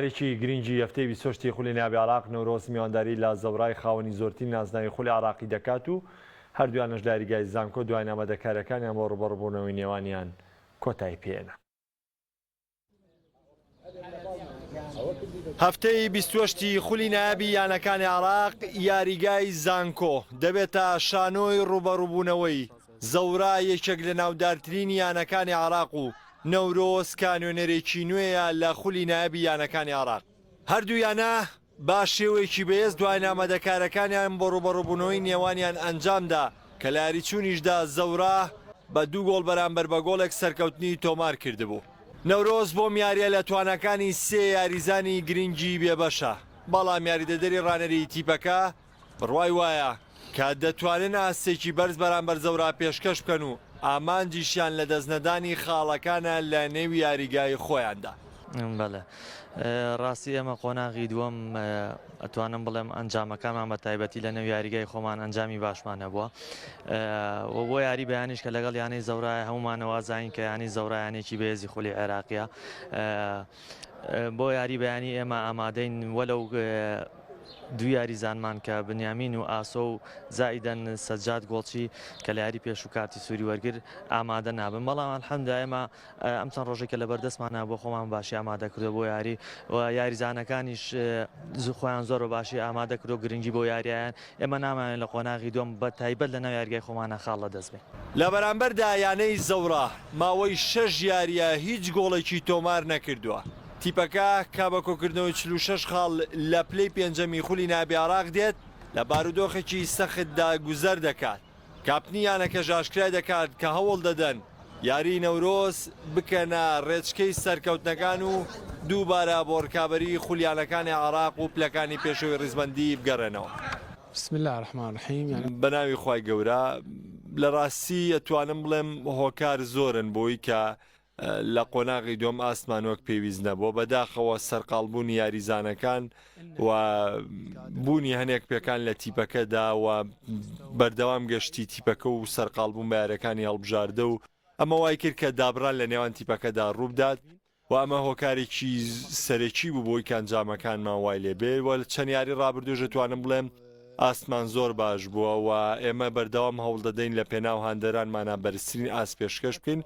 یاریی گرینگی هەفتەی بیست و هەشت ی خولی ناوی عێراق، نەورۆز میوانداری لە زەورای خاوەنی زۆرترین نازناوی خولی عێراقی دەکات و هەردوویانەش لە یاریگای زانکۆ دوای نامادەکارەکانیان بۆ رووبەڕووبوونەوەی نێوانیان کۆتایی پێیەنا. هەفتەی بیست و هەشت ی خولی نایابی یانەکانی عێراق، یاریگای زانکۆ دەبێتە شانۆی رووبەڕووبوونەوەی زەورا یەکێک لە ناودارترین یانەکانی عێراق و نەورۆز کانۆنەرێکی نوێیە لە خولی نایابی یانەکانی عێراق. هەردوو یانە بە شێوەیەکی بەهێز دوایین ئامادەکارییەکانیان بۆ رووبەڕووبوونەوەی نێوانیان ئەنجامدا کە لە یاریچوونیشدا زەورا بە دوو گۆڵ بەرامبەر بە گۆڵێک سەرکەوتنی تۆمارکردبوو. نەورۆز بۆم یارییە لە تواناکانی سێ یاریزانی گرنگی بێبەشە، بەڵام یاریدەدەری رانەریی تیپەکە بڕوای وایە کە دەتوانن ئاستێکی بەرز بەرامبەر زەورا پێشکەش بکەن و ئامانجیشیان لە دەستنەدانی خاڵەکانە لە نێو یاریگای خۆیاندا. بەلێ راستی ئێمە قۆناغی دووەم ئەتوانم بڵێم ئەنجامەکانمان بە تایبەتی لە نێو یاریگای خۆمان ئەنجامی باشمان هەبووە و بۆ یاری بەیانیش کە لەگەڵ یانەی زەورای هەمومانەوازین کە ینی زەورایانێکی بێزی خولی عێراقیە بۆ یاری بەیانی ئێمە ئامادەین وەلەو دوو یاریزانمان کە بنیامین و ئاسۆ و زائیدەن سەجاد گۆڵچی کە لە یاری پێشوو کارتی سووری وەرگر ئامادە نابن بەڵام ئەلحەمدا ئێمە ئەم چەند ڕۆژێک کە لە بەردەستمانە بۆ خۆمان باشی ئامادە کردو بۆ یاری و یاریزانەکانیش زوخۆیان زۆر بە باشی ئامادە کردو گرنگی بۆ یاریان ئێمە نامانەوێت لە قۆناغی دووەم بە تایبەت لەناو یاریگای خۆمانا خاڵ لە دەست بێ. لە بەرامبەردا یانەی زەوڕا ماوەی شەش یارییە هیچ گۆڵێکی تۆمار نەکردووە. تیپەکە کە بە کۆکردنەوەی چل و شەش خاڵ لە پلەی پێنجەمی خولی نایابی عێراق دێت، لە بارودۆخێکی سەختدا گوزەر دەکات. کاپتنی یانەکەش ئاشکرای دەکات کە هەوڵ دەدەن یاریی نەورۆز بکەنە رێچکەی سەرکەوتنەکان و دووبارە بۆ رکابەریی خولیانەکانی عێراق و پلەکانی پێشەوەی ریزبەندی بگەڕێنەوە. بسم اللە الرحمن الرحیم یانی. بەناوی خوای گەورە. لەراستی ئەتوانم بڵێم هۆکار زۆرن بۆی کە لە قۆناغی دووەم ئاستمان وەک پێویست نەبووە بەداخەوە سەرقاڵبوونی یاریزانەکان و بوونی هەنێک پێکان لە تیپەکەدا و بەردەوام گەشتی تیپەکە و سەرقاڵبوون بارەکانی هەڵبژاردە و ئەمە وای کرد کە دابران لە نێوان تیپەکەدا ڕووبدات و ئەمە هۆکارێکی سەرەکی بوو بۆی کانجامەکانمان وای لێبێ وە چەند یاری ڕابردوژە توانم بڵێم ئاستمان زۆر باش بووە و ئێمە بەردەوام هەوڵدەدەین لە پێناو هاندەرانمانا بەرزترین ئاست پێشکەش بکەین،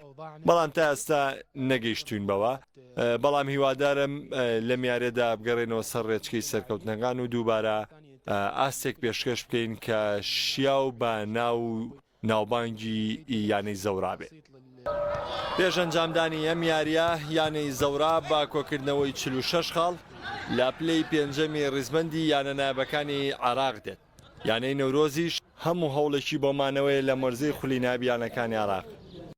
بەڵام تا ئێستا نەگەیشتووین بەوە، بەڵام هیوادارم لەم یاریەدا بگەڕێینەوە سەر ڕێچکەی سەرکەوتنەکان و دووبارە ئاستێک پێشکەش بکەین کە شیاو بە ناو ناوبانگی یانەی زەورا بێت. پێش ئەنجامدانی ئەم یارییە، یانەی زەورا بە کۆکردنەوەی چل و شەش خاڵ لە پلەی پێنجەمی ریزبەندی یانە نایابەکانی عێراق دێت، یانەی نەورۆزیش هەموو هەوڵێکی بۆ مانەوەیە لە مەرزەی خولی نایاب یانەکانی عێراق.